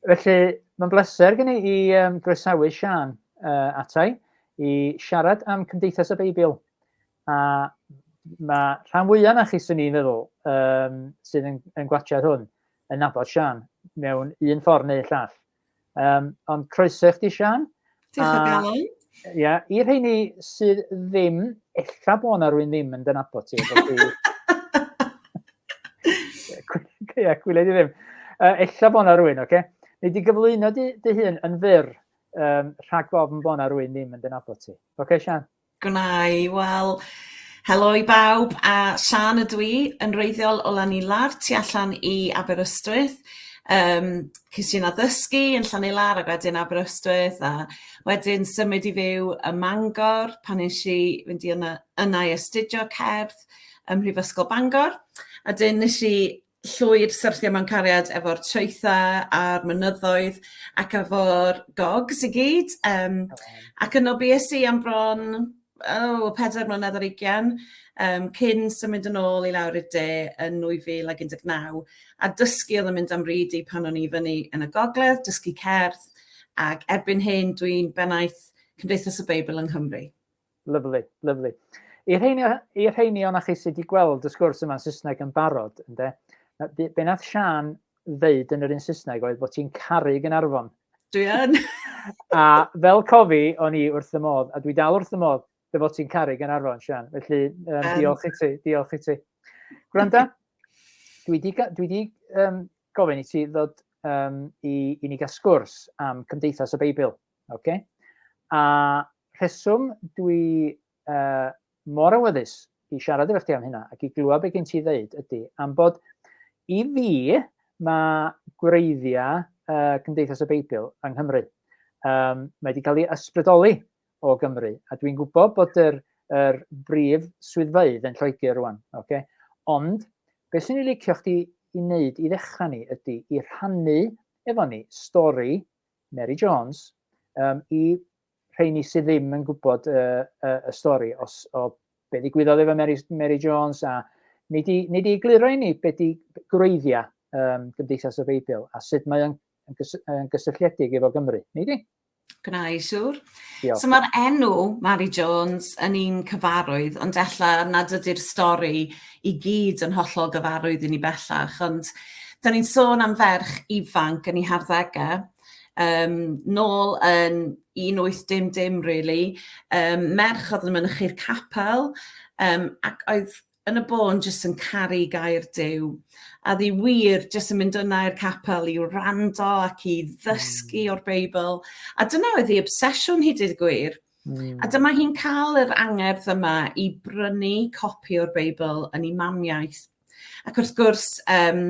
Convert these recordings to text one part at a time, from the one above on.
Felly, mae'n bleser gen i i um, groesawu Sian uh, atai i siarad am Cymdeithas y Beibl. A mae rhan fwyaf na chi sy'n i'n meddwl um, sydd yn, yn gwachod hwn yn nabod Sian mewn un ffordd neu llall. Um, ond croeso i chdi, Sian. Diolch o galon. Ia, i'r rheini sydd ddim, ella bod yna rwy'n ddim yn dynabod ti. Ia, gwylio di ddim. Uh, ella bod yna rwy'n, oce? Okay? Neu di gyflwyno dy, dy hun yn fyr um, rhag gofn bod yna rwy'n ddim yn dynabod ti. Oce, okay, Sian? Gwna i, wel, helo i bawb, a Siân ydw i, yn wreiddiol o Llanilard, tu allan i Aberystwyth. Um, Cys i'n addysgu yn Llanilard ac wedyn Aberystwyth a wedyn symud i fyw ym Mangor pan nes i fynd i yna, yna i astudio cerdd ym Mhrifysgol Bangor. A dyn nes i llwyr syrthio mewn cariad efo'r traetha a'r mynyddoedd ac efo'r gogs i gyd yym ac yno bues i am bron o pedair mlynedd ar ugian yym cyn symud yn ôl i lawr i'r de yn 2019 a dysgu odd yn mynd a'm ryd i pan o'n i fyny yn y gogledd dysgu cerdd ag erbyn hyn dwi'n bennaeth Cymdeithas y Beibl yng Nghymru. Lyfli, lyfli. I'r rheini, i'r rheini o'na chi sydd wedi gweld y sgwrs yma'n Saesneg yn barod, ynde, be nath Sian ddeud yn yr un Saesneg oedd bod ti'n caru Gynarfon. Dwi yn. a fel cofi, o'n i wrth y modd, a dwi dal wrth y modd, dy fod ti'n caru Gynarfon, Sian. Felly, um, um. diolch i ti, diolch i ti. Gwranda, dwi di, dwi di um, gofyn i ti ddod um, i, i ni gael sgwrs am Cymdeithas y Beibl, oce? Okay? A rheswm dwi uh, mor awyddus i siarad efo chdi am hynna ac i glywed beth gen ti ddeud ydy am bod i fi mae gwreiddiau uh, Cymdeithas y Beibl yng Nghymru. Um, mae wedi cael ei ysbrydoli o Gymru a dwi'n gwybod bod yr, yr brif swyddfeydd yn Lloegr rwan. Okay? Ond beth sy'n ei licio chdi i wneud i ddechrau ni ydy i rhannu efo ni stori Mary Jones um, i rheini sydd ddim yn gwybod y, y, y stori os, o be ddigwyddodd efo Mary, Mary Jones a ni di, ni di gliro i ni be di gwreiddiau um, Gymdeithas y Beibl a sut mae'n yn gysylltiedig efo Gymru. Ni di? Gwna i siwr. Diolch. So mae'r enw Mary Jones yn un cyfarwydd, ond ella nad ydy'r stori i gyd yn hollol gyfarwydd i ni bellach, ond da ni'n sôn am ferch ifanc yn ei harddegau Yym, nôl yn 1800 really, um, merch oedd yn mynychu'r capel, um, ac oedd yn y bôn jyst yn caru gair dew. A ddi wir, jyst yn mynd yna i'r capel i wrando ac i ddysgu hmm. o'r Beibl. A dyna oedd ei obsesiwn hi, dyd gwir. Mm. A dyma hi'n cael yr angerdd yma i brynu copi o'r Beibl yn ei mamiaeth. Ac wrth gwrs, um,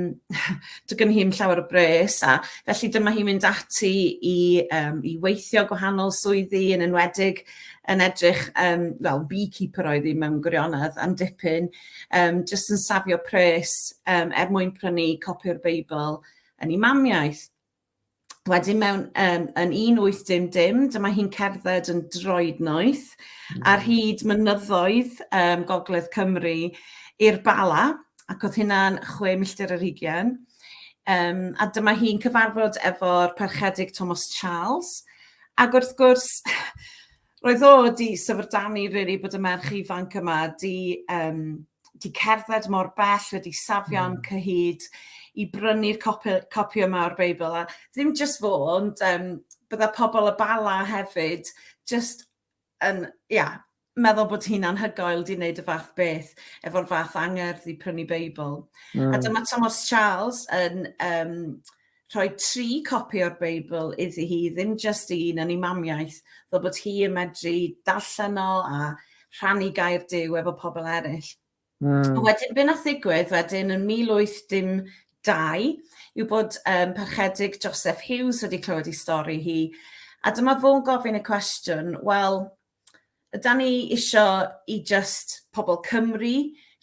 dwi gen hi'n llawer o bres, a felly dyma hi'n mynd ati i, um, i weithio gwahanol swyddi yn enwedig yn edrych, um, well, beekeeper oedd hi mewn gwirionedd am dipyn, um, jyst yn safio pres um, er mwyn prynu copi o'r Beibl yn ei mamiaeth. Wedyn mewn um, yn 1810, dyma hi'n cerdded yn droed noeth mm. ar hyd mynyddoedd um, Gogledd Cymru i'r Bala, ac oedd hynna'n chwe milltir yr hugen. Um, a dyma hi'n cyfarfod efo'r parchedig Thomas Charles. Ac wrth gwrs, Roedd o 'di syfrdanu rili bod y merch ifanc yma 'di yym 'di cerdded mor bell, wedi safio'n hmm. cyhyd i brynu'r copi copi yma o'r Beibl a ddim jyst fo ond yym bydda pobl y Bala hefyd jyst yn ia meddwl bod hi'n anhygoel 'di wneud y fath beth efo'r fath angerdd i prynu Beibl. Mm. A hmm. dyma Thomas Charles yn yym rhoi tri copi o'r Beibl iddi hi, ddim just un yn ei mamiaith, fel bod hi yn medru darllen o a rhannu gair Duw efo pobl eraill. Mm. A wedyn, be nath ddigwydd wedyn yn 1812 yw bod um, parchedig Joseph Hughes wedi clywed ei stori hi, a dyma fo'n gofyn y cwestiwn, wel, Ydan ni isio i just pobl Cymru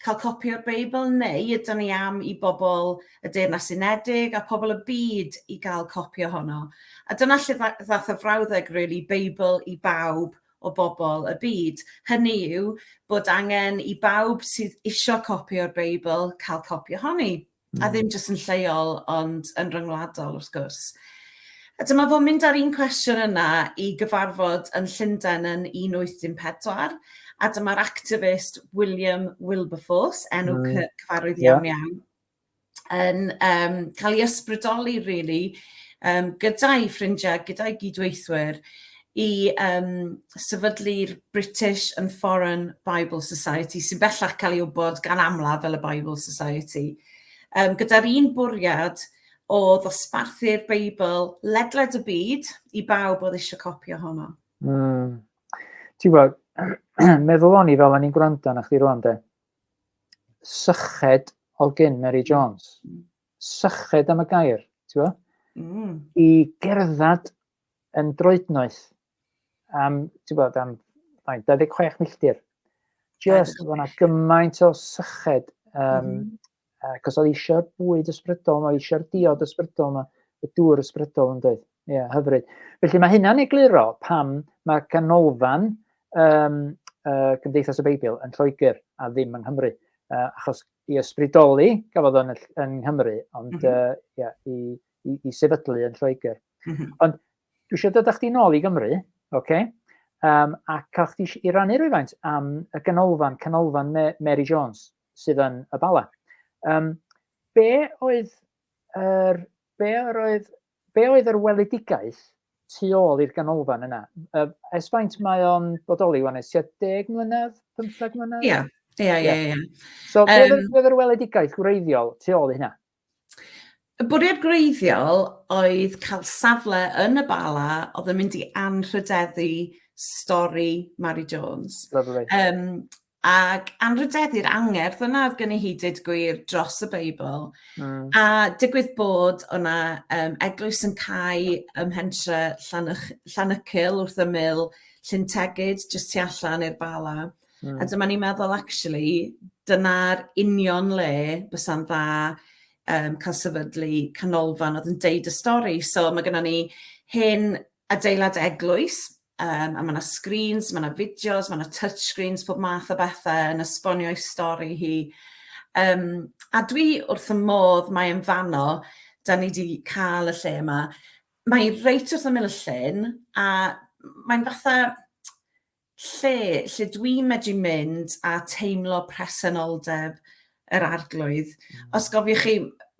cael copi o'r Beibl neu ydan ni am i bobl y Deyrnas Unedig a pobl y byd i gael copi ohono? A dyna lle ddath y frawddeg really, Beibl i bawb o bobl y byd. Hynny yw bod angen i bawb sydd isio copi o'r Beibl cael copi ohoni. A ddim jyst yn lleol, ond yn ryngwladol wrth gwrs. A dyma fo'n mynd â'r un cwestiwn yna i gyfarfod yn Llundain yn 1814, a dyma'r activist William Wilberforce, enw mm. cyfarwydd iawn yeah. iawn, yn um, cael ei ysbrydoli, really, um, gyda'i ffrindiau, gyda'i gydweithwyr, i um, sefydlu'r British and Foreign Bible Society, sy'n bellach cael ei wybod gan amlaf fel y Bible Society, um, gyda'r un bwriad o ddosbarthu'r Beibl ledled y byd i bawb oedd eisiau copi ohono. Mm. Ti'n gwybod, meddwl o'n i fel o'n i'n gwrando na chdi rwan de, syched o gyn Mary Jones, hmm. syched am y gair, ti'n gwybod? Mm. I gerdded yn droednoeth am, ti'n bod, am 26 milltir. Just, oedd yna gymaint o syched, um, mm. cos oedd eisiau'r bwyd ysbrydol yma, eisiau'r diod ysbrydol yma, y dŵr ysbrydol yn dweud. Ie, yeah, hyfryd. Felly mae hynna'n egluro pam mae canolfan um, uh, Cymdeithas y Beibl yn Lloegr a ddim yng Nghymru. Uh, achos i ysbrydoli, gafodd o'n yn Nghymru, ond mm -hmm. uh, yeah, i, i, i sefydlu yn Lloegr. Mm -hmm. Ond dwi eisiau dod â chdi nôl i Gymru, oce? Okay? Um, a cael chdi i rannu rhywfaint am y ganolfan, canolfan Mary Jones sydd yn y Bala. Um, be oedd yr, be oedd, be oedd yr weledigaeth tu ôl i'r ganolfan yna? Uh, es faint mae o'n bodoli wan, es 10 mlynedd, 15 mlynedd? Ie, ie, ie. So, um, be oedd yr weledigaeth gwreiddiol tu ôl i hynna? Y bwriad gwreiddiol oedd cael safle yn y Bala oedd yn mynd i anrhydeddu stori Mari Jones. Lovely. Um, ac anrhydeddu'r angerdd yna oedd gen i hi dyd gwir dros y Beibl. Mm. A digwydd bod o'na um, eglwys yn cael ym Hentre Llanwch, Llanycil wrth ymyl Llyn Tegid, jyst tu allan i'r Bala. Mm. A dyma ni'n meddwl, actually, dyna'r union le bysa'n dda um, cael sefydlu canolfan oedd yn deud y stori. So mae gennym ni hyn adeilad eglwys, um, a mae yna screens, mae yna fideos, mae yna touchscreens, pob math o bethau yn esbonio ei stori hi. Um, a dwi wrth y modd mae yn fanno, da ni wedi cael y lle yma. Mae reit wrth ymyl y llyn, a mae'n fatha Lle, lle dwi'n medru mynd a teimlo presenoldeb yr Arglwydd. Os gofiwch chi,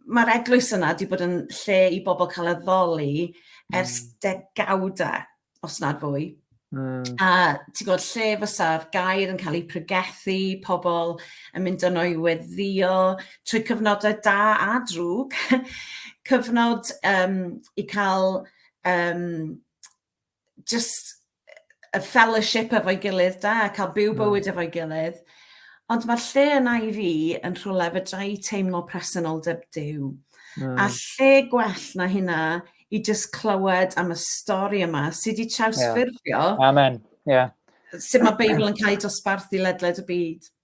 mae'r eglwys yna wedi bod yn lle i bobl cael addoli ers mm. degawdau, os nad fwy. Mm. A ti'n gwybod lle fysa'r gair yn cael ei pregethu, pobl yn mynd yno i weddio trwy cyfnodau da a drwg, cyfnod um, i cael um, just y fellowship efo'i gilydd da, cael byw hmm. bywyd efo'i gilydd. Ond mae'r lle yna i fi yn rhywle fydra i teimlo presenoldeb Dyw. Mm. A lle gwell na hynna i just clywed am y stori yma sydd wedi trawsffurfio. Yeah. Amen. Yeah. Sut mae Beibl yn cael ei dosbarthu ledled y byd.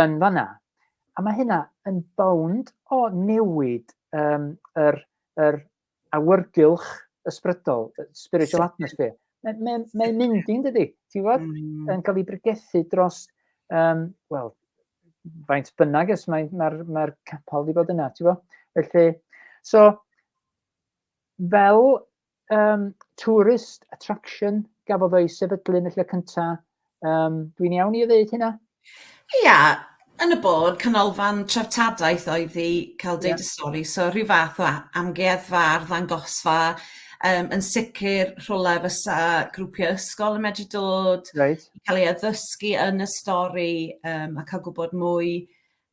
yn fanna. A mae hynna yn bownd o newid um, yr, yr awyrgylch ysbrydol, spiritual atmosphere. Mae'n mae, mae mynd i'n dydy, ti'n fod? Mm. Yn cael ei bregethu dros, um, wel, faint bynnag ys mae'r mae, mae, mae capel wedi bod yna, ti'n fo? Felly, so, fel um, tourist attraction gafodd o'i sefydlu yn y lle cyntaf. Um, Dwi'n iawn i ddweud hynna? Ia, yn y bod, canolfan treftadaeth oedd i cael deud y stori, so rhyw fath o amgueddfa, arddangosfa, um, yn sicr rhywle fysa grwpiau ysgol yn medru dod, right. cael ei addysgu yn y stori um, a cael gwybod mwy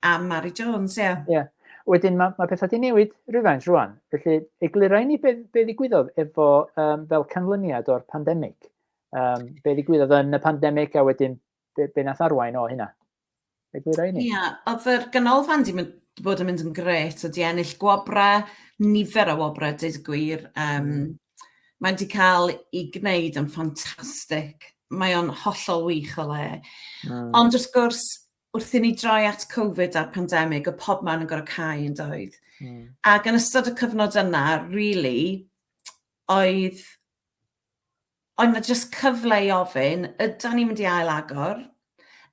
Am Mari Jones, ie. Yeah. Ie. Wedyn mae, mae pethau wedi newid rhywfaint rwan. Felly, eglurai ni be, be ddigwyddodd efo um, fel canlyniad o'r pandemig. Um, be ddigwyddodd yn y pandemig a wedyn be, be nath arwain o hynna. Eglurai ni. Ie, yeah. oedd yr ganolfan di mynd, bod yn mynd yn gret, oedd di ennill gwobrau, nifer o wobrau, dweud y gwir. Um, Mae'n di cael ei gwneud yn ffantastig. Mae o'n hollol wych o le. Mm. Ond wrth gwrs, wrth i ni droi at Covid a'r pandemig, y pob man yn gorau cael yn doedd. Mm. Ac yn ystod y cyfnod yna, really, oedd oedd na jyst cyfle i ofyn, yda ni'n mynd i ail agor?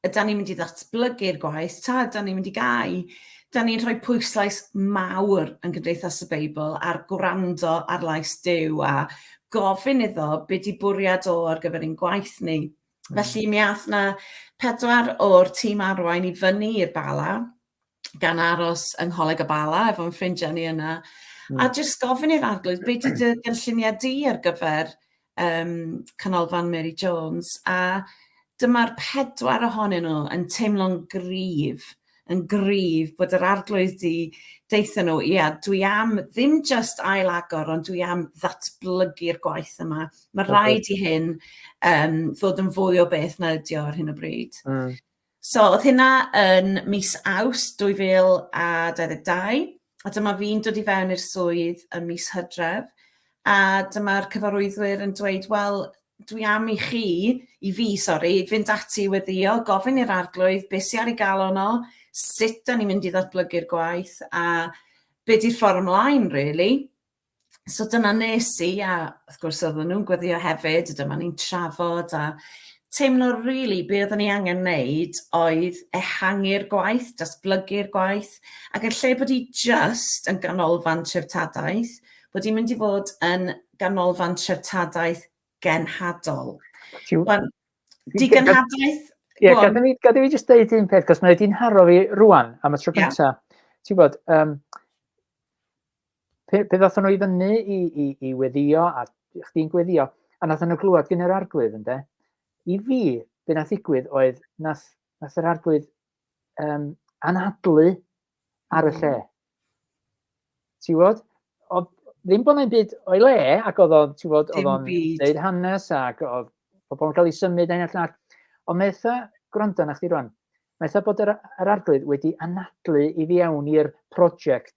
Yda ni'n mynd i ddatblygu'r gwaith? Ta, yda ni'n mynd i gau? Da ni'n rhoi pwyslais mawr yn Gymdeithas y Beibl ar gwrando ar lais Dyw a gofyn iddo beth di bwriad o ar gyfer ein gwaith ni. Mm. Felly mi ath 'na pedwar o'r tîm arwain i fyny i'r Bala gan aros yng Ngholeg y Bala efo'n ffrindiau ni yna mm. a jyst gofyn i'r arglwydd be' 'di dy gynlluniau di ar gyfer um, Canolfan Mary Jones a dyma'r pedwar ohonyn nhw yn teimlo'n gryf yn gryf bod yr Arglwydd 'di deutha nhw, ia, dwi am ddim jyst ail-agor, ond dwi am ddatblygu'r gwaith yma. Mae okay. rhaid i hyn um, fod yn fwy o beth na ydi o ar hyn o bryd. Mm. So, oedd hynna yn mis Aws 2022. a dyma fi'n dod i fewn i'r swydd ym mis Hydref, a dyma'r cyfarwyddwyr yn dweud, wel, dwi am i chi, i fi, sori, fynd ati i weddio, gofyn i'r arglwydd beth sy'n ar ei gael ono, sut da ni'n mynd i ddatblygu'r gwaith, a be di'r ffordd ymlaen, really. so dyna nes i a wrth gwrs oedden nhw'n gweddio hefyd a dyma ni'n trafod a teimlo rili really, be oedden ni angen wneud oedd ehangu'r gwaith, datblygu'r gwaith ac yn lle bod i just yn ganolfan treftadaeth, bod i'n mynd i fod yn ganolfan treftadaeth genhadol. Wan, di genhadaeth... Ie, yeah, gadw fi, gadw fi jyst deud un peth, cos mae wedi'n haro fi rwan am y tro gyntaf. Yeah. Ti'n bod, um, pe, pe ddothon nhw i fyny i, i, i weddio, a chdi'n gweddio, a nath nhw glwad gen yr arglwydd, ynde? I fi, be nath ddigwydd oedd, nath, nath yr arglwydd um, anadlu ar y lle. Ti wod? O, ddim bod yna'n byd o'i le, ac oedd o'n, ti wod, oedd o'n dweud hanes, ac oedd pobl yn cael ei symud ein allan. Ond mae eitha, gwrando na chdi rwan, mae eitha bod yr, yr arglwydd wedi anadlu i fi awn i'r prosiect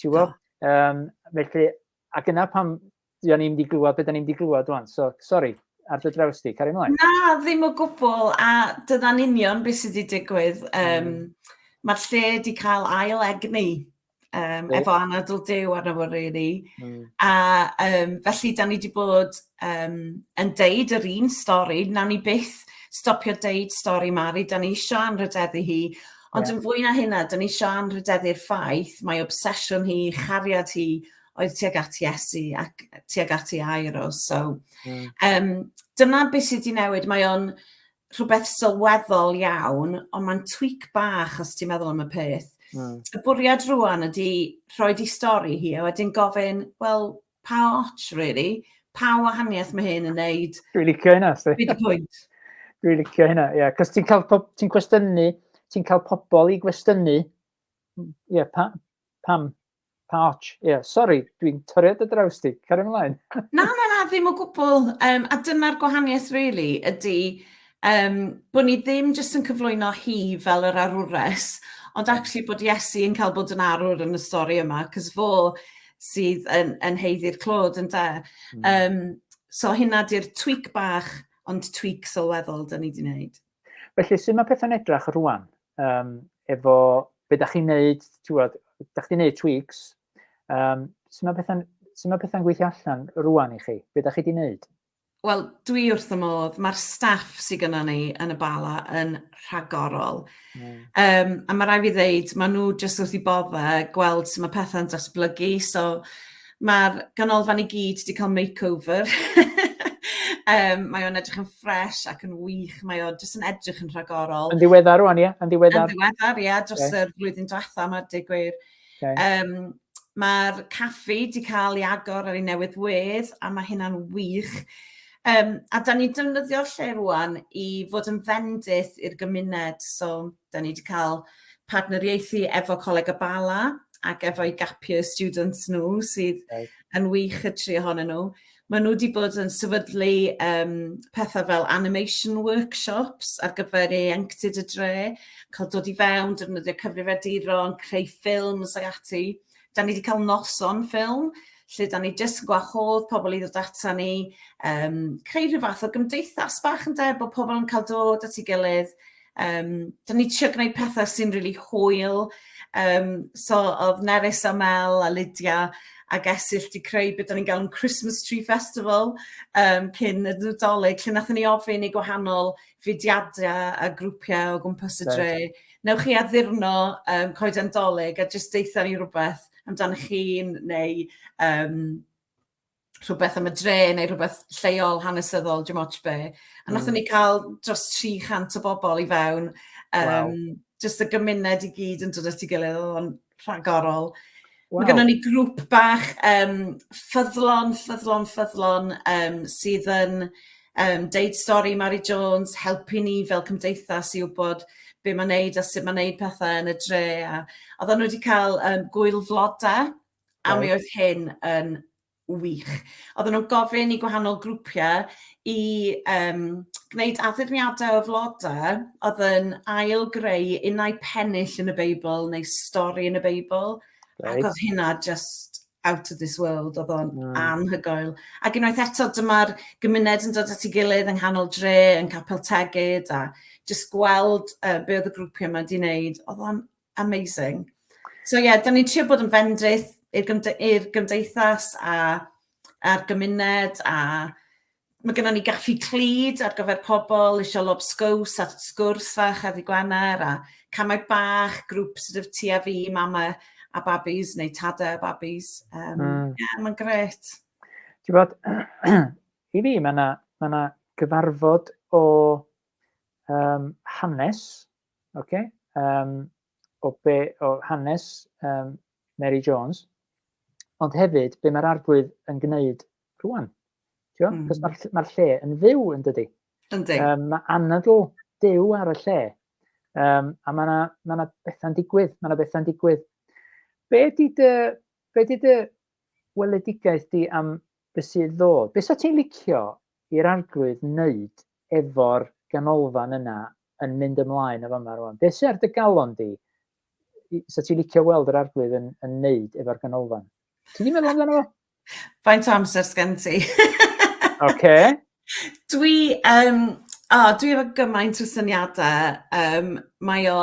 Ti'n gwybod? Um, felly, ac yna pam dyn ni'n mynd i glywed beth dyn ni'n mynd i glywed rwan. So, sori, ar dy draws di, cari mlaen. Na, ddim o gwbl, a dyna'n union beth sydd wedi digwydd. Um, mm. Mae'r lle wedi cael ail egni um, efo anadl dew arno fo, really. Mm. A um, felly, da ni wedi bod um, yn deud yr un stori, nawn ni byth stopio deud stori Mari, da ni eisiau anrhydeddu hi, ond yeah. yn fwy na hynna, da ni eisiau anrhydeddu'r ffaith mae obsesiwn hi, chariad hi, oedd tuag at Iesu ac tuag at ei air o. So, mm. um, dyna beth sydd wedi newid. Mae o'n rhywbeth sylweddol iawn, ond mae'n tweak bach os ti'n meddwl am y peth. Mm. Y bwriad rwan ydy rhoi di stori hi, a wedyn gofyn, wel, pa ots really, pa wahaniaeth mae hyn yn neud. Dwi'n licio hynna, sti. Dwi'n pwynt. Dwi'n licio hynna, ie. Yeah. Cos ti'n cael, ti'n cwestiynu, ti'n cael pobl i gwestiynu, ie, yeah, pa, pam, pa ots, ie, yeah, sori, dwi'n torriad y draws ti, cario ymlaen. na, na, na, ddim o gwbl, um, a dyna'r gwahaniaeth, really, ydy, Yym, bod ni ddim jyst yn cyflwyno hi fel yr arwres, ond actually bod Iesu yn cael bod yn arwr yn y stori yma, cos fo sydd yn, yn heiddi'r clod, yn da. Mm. Um, so hynna di'r tweak bach, ond tweak sylweddol da ni di wneud. Felly, sy'n mae pethau'n edrach rwan? Um, efo, be da chi'n neud, ti'n gwybod, da chi'n neud tweaks, um, sy'n mae pethau'n pethau gweithio allan rwan i chi? Be da chi di neud? Wel, dwi wrth y modd. Mae'r staff sydd gyda ni yn y bala yn rhagorol. Mm. Um, a mae rai fi ddeud, maen nhw jyst wrth i bodde gweld sut mae pethau'n datblygu. So, mae'r ganolfan i gyd wedi cael makeover. um, mae o'n edrych yn ffres ac yn wych. Mae o'n jyst yn edrych yn rhagorol. Yn ddiweddar rwan, ie? Yn ddiweddar. Yn ddiweddar, ie. Dros okay. y flwyddyn diwetha, mae'r digwyr. gwir Okay. Um, Mae'r caffi di cael ei agor ar ei newydd wedd, a mae hynna'n wych. Um, a da ni'n defnyddio lle rwan i fod yn fendith i'r gymuned. So, da ni wedi cael partneriaethu efo Coleg y Bala ac efo'i gapio students nhw sydd okay. yn wych y tri ohonyn nhw. Maen nhw 'di bod yn sefydlu yym petha' fel animation workshops ar gyfer ieuenctid y dre, cael dod i fewn, defnyddio cyfrifiaduron, creu ffilms ac ati. 'Da ni 'di cael noson ffilm lle 'da ni jyst yn gwahodd pobl i ddod ata ni, yym creu rhyw fath o gymdeithas bach ynde, bod pobl yn cael dod at ei gilydd, Um, Do'n ni trio gwneud pethau sy'n rili really hwyl. Um, so oedd Nerys a Mel a Lydia a Gesill di creu beth o'n i'n galw'n Christmas Tree Festival um, cyn y Nadolig lle nath ni ofyn i gwahanol fudiadau a grwpiau o gwmpas y dre. Right. Newch chi addurno um, coeden dolyg a jyst deitha ni rhywbeth amdanoch chi'n neu um, rhywbeth am y dre neu rhywbeth lleol hanesyddol dim ots be. A nathon ni hmm. cael dros 300 o bobl i fewn. Um, wow. Just y gymuned i gyd yn dod at ei gilydd, oedd o'n rhagorol. Wow. Mae gennym ni grŵp bach um, ffyddlon, ffyddlon, ffyddlon um, sydd yn um, deud stori Mary Jones, helpu ni fel cymdeithas i wybod be mae'n neud a sut mae'n neud pethau yn y dre. A oedden nhw wedi cael um, gwyl floda A mi oedd hyn yn wych. Oedden nhw'n gofyn i gwahanol grwpiau i um, gwneud addurniadau o flodau oedd yn ail greu unau pennill yn y Beibl neu stori yn y Beibl. Right. Ac oedd hynna just out of this world, oedd o'n mm. anhygoel. Ac unwaith eto, dyma'r gymuned yn dod at ei gilydd yng nghanol dre, yn capel tegyd, a jyst gweld uh, be oedd y grwpiau yma wedi wneud, oedd o'n Amazing. So ie, yeah, da ni'n trio bod yn fendith i'r gymde gymdeithas a'r gymuned a mae gennym ni gaffi clyd ar gyfer pobl eisiau lob sgws a sgwrs fach ar ddi Gwener a camau bach, grŵp sydd wedi ti a fi, mama a babis neu tada a babis. Um, mm. yeah, mae'n gret. Ti'n bod, i fi mae yna ma gyfarfod o um, hanes Oce, um, o, be, o hanes um, Mary Jones, ond hefyd be mae'r arglwydd yn gwneud rwan. Tio? Mm. Cos mae'r ma lle yn fyw yn dydy. Yndi. Um, mae anadl dew ar y lle. Um, a mae yna ma, na, bethau'n digwydd, mae yna bethau'n digwydd. Be di dy, be di dy weledigaeth di am beth sydd ddod? Be sa ti'n licio i'r arglwydd wneud efo'r ganolfan yna yn mynd ymlaen o fama rwan? Be sydd ar dy galon di? Sa ti'n licio weld yr arglwydd yn, yn neud efo'r ganolfan? Ti wedi meddwl amdano fo? Faint o amser sgen ti? Oce. Dwi, um, oh, dwi efo gymaint o syniadau. Um, mae o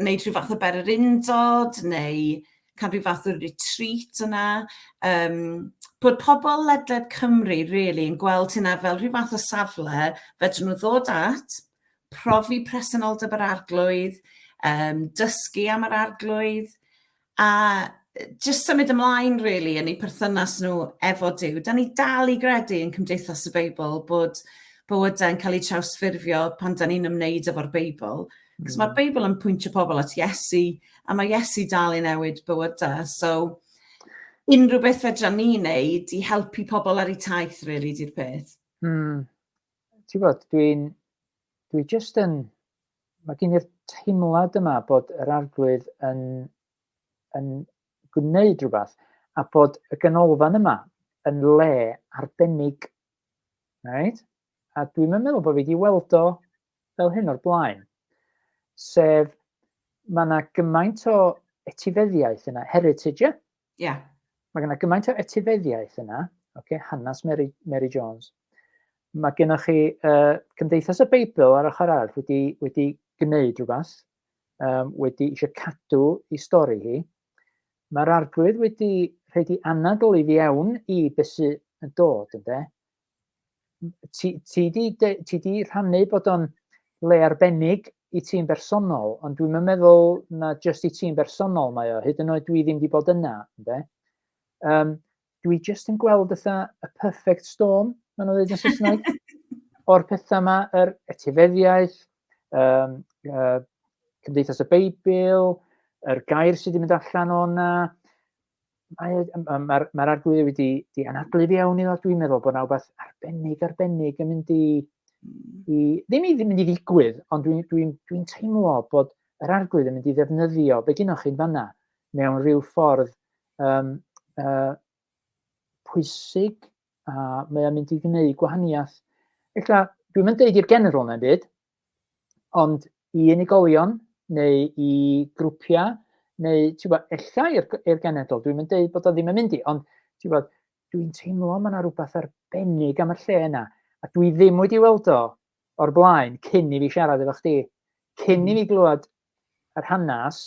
wneud rhyw fath o bererindod neu cael rhyw fath o retreat yna. Um, bod pobl ledled Cymru really, yn gweld hynna fel rhyw fath o safle fedrwn nhw ddod at, profi presenoldeb yr arglwydd, um, dysgu am yr arglwydd, A jyst symud ymlaen really yn eu perthynas nhw efo Duw. Da ni dal i gredu yn Cymdeithas y Beibl bod bywydau yn cael eu trawsffurfio pan da ni'n ymwneud efo'r Beibl. Cos mm. mae'r Beibl yn pwyntio pobl at Iesu, a mae Iesu dal i newid bywydau. So, unrhyw beth fedra ni wneud i helpu pobl ar eu taith, really, di'r peth. Mm. ti'n bod, dwi'n dwi jyst yn, mae gen i'r teimlad yma bod yr arglwydd yn, yn gwneud rhywbeth a bod y ganolfan yma yn le arbennig. Right? A dwi'n meddwl bod fi wedi weld o fel hyn o'r blaen. Sef, mae yna gymaint o etifeddiaeth yna, heritage, yeah? Ie. Yeah. Mae gennych gymaint o etifeddiaeth yna, okay, hanes Mary, Mary Jones. Mae gennych chi uh, Cymdeithas y Beibl ar ochr arall wedi, wedi gwneud rhywbeth, um, wedi eisiau cadw i stori hi. Mae'r arglwydd wedi rhaid i anadl i fi awn i beth sy'n dod, ynddo? ti, ti, di, de, ti di rhannu bod o'n le arbennig i ti'n bersonol, ond dwi'n meddwl na jyst i ti'n bersonol mae o, hyd yn oed dwi ddim wedi bod yna. Ynde? Um, dwi jyst yn gweld ytha y perfect storm, mae'n nhw'n dweud yn Saesneg, o'r pethau yma, yr etifeddiaeth, um, uh, Cymdeithas y Beibl, yr gair sydd wedi mynd allan o'na, mae mae'r mae'r arglwyddi wedi di anadlu fi awn iddo dwi'n meddwl bod 'na wbeth arbennig arbennig yn mynd i hmm. i ddim i ddim mynd i ddigwydd ond dwi'n dwi'n dwi'n teimlo bod yr arglwydd yn mynd i ddefnyddio be gynnwch chi'n fanna mewn rhyw ffordd um, uh, pwysig a mae o'n mynd i gwneud gwahaniaeth. Ella dwi'n mynd deud i'r general na'n byd, ond i unigolion neu i grwpiau neu tibod ella i'r i'r genedl, dwi'm yn deud bod o ddim yn mynd i, ond tibod dwi'n teimlo mae yna rhywbeth arbennig am y lle yna, a dwi ddim wedi weld o o'r blaen cyn i fi siarad efo chdi, cyn i fi hmm. glywed yr hanes,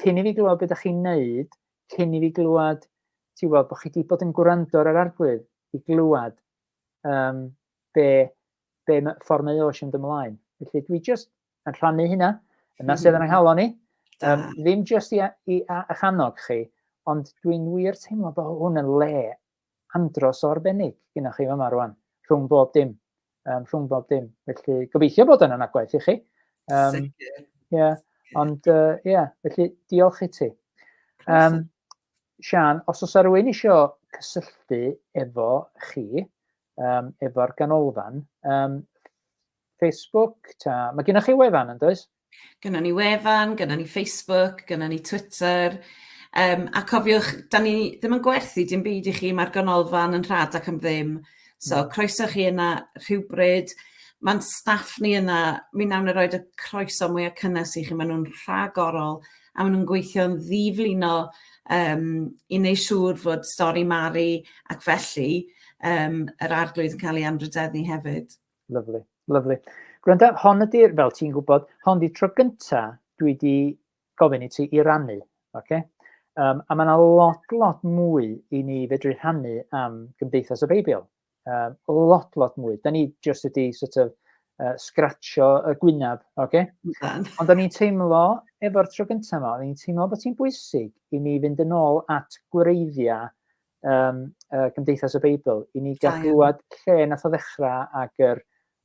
cyn i fi glywed beth ydych chi'n neud, cyn i fi glywed, ti'n gwybod, bod chi wedi bod yn gwrando ar yr arglwydd i glywed um, be be mae ffordd mae Osh yn dymlaen. Felly dwi just yn rhannu hynna, yna sydd yn mhm. anghalon ni. Um, ddim just i, i a'ch annog chi, ond dwi'n wir teimlo bod hwn yn le andros o arbennig gynnwch chi yma rwan, rhwng bob dim. Um, rhwng bob dim. Felly gobeithio bod yn anagwaith i chi. Um, Sicr. Yeah. Ond, ie, uh, yeah, felly diolch i ti. Um, Sian, os oes rhywun eisiau cysylltu efo chi, um, efo'r ganolfan. Um, Facebook, ta, mae gennych chi wefan yn does? Gynna ni wefan, gynna ni Facebook, gynna ni Twitter, Um, a cofiwch, da ni ddim yn gwerthu dim byd i chi, mae'r ganolfan yn rhad ac am ddim. So, hmm. croeso chi yna rhywbryd. Mae'n staff ni yna, mi nawn ni roi y croeso mwyaf cynnes i chi, maen nhw'n rhagorol. orol a maen nhw'n gweithio'n ddiflino um, i wneud siŵr fod stori Mari ac felly um, yr arglwydd yn cael ei anrhydeddu hefyd. Lyflu, lyflu. Gwranda, hon ydy'r, fel ti'n gwybod, hon ydy'r tro gynta dwi wedi gofyn i ti i rannu. Okay? Um, a mae yna lot, lot mwy i ni fedru rhannu am Gymdeithas y Beibl. Um, lot, lot mwy. Da ni just wedi sort of, uh, scratcho y gwynaf, oce? Okay? Ond o'n i'n teimlo, efo'r tro gyntaf yma, o'n i'n teimlo bod hi'n bwysig i ni fynd yn ôl at gwreiddiau um, uh, Gymdeithas y Beibl, i ni gael gwybod lle nath o ddechrau ac yr,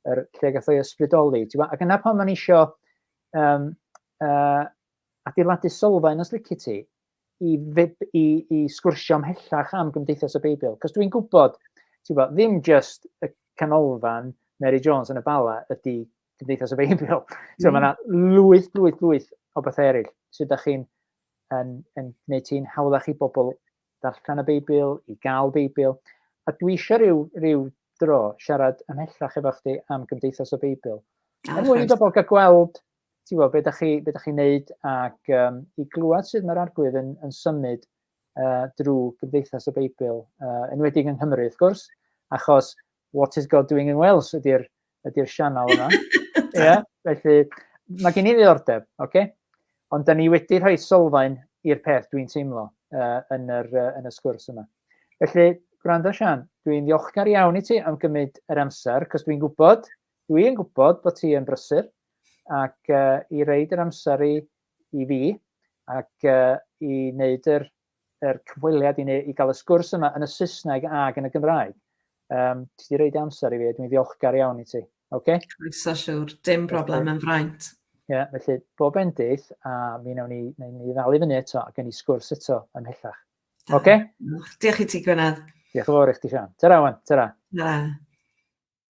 yr lle gath o'i ysbrydoli. Ac yna pan o'n eisiau um, uh, adeiladu sylfaen os lici ti, i, fib, i, i sgwrsio ymhellach am Gymdeithas y Beibl. Cos dwi'n gwybod, ti'n bod, ddim just y canolfan Mary Jones yn y Bala ydy Cymdeithas y Beibl. so, mm. mae yna lwyth, lwyth, lwyth o bethau eraill sydd ydych chi'n yn, yn gwneud ti'n hawddach i bobl darllen y Beibl, i gael Beibl. A dwi eisiau rhyw, rhyw dro siarad ymhellach efo chdi am Gymdeithas y Beibl. Er mwyn i bobl gael gweld ti'n gwybod, beth ydych chi, be chi'n neud ac um, i glywed sydd mae'r arglwydd yn, yn symud uh, drwy gymdeithas y Beibl, uh, enwedig yng Nghymru, wrth gwrs, achos What is God Doing in Wales ydy'r ydy sianel yma. yeah, felly, mae gen i ddiddordeb, oce? Okay? Ond da ni wedi rhoi sylfaen i'r peth dwi'n teimlo uh, yn, yr, uh, yn y sgwrs yma. Felly, gwrando Sian, dwi'n ddiolchgar iawn i ti am gymryd yr amser, cos dwi'n gwybod Dwi yn gwybod bod ti yn brysur ac uh, i reid yr amser i, i fi ac uh, i wneud yr, yr cyfweliad i, i gael y sgwrs yma yn y Saesneg ac yn y Gymraeg. Um, ti wedi reid amser i fi, dwi'n ddiolchgar iawn i ti. Okay? Croeso siwr, dim broblem yn fraint. Ie, yeah, felly bob endith a mi wnawn ni, wnawn ni ddal i fyny eto ac yn i sgwrs eto ymhellach. Oce? Okay? Diolch i ti, Gwynedd. Diolch yn fawr i chdi, Sian. Ta-ra, wan. Ta-ra. Ta-ra.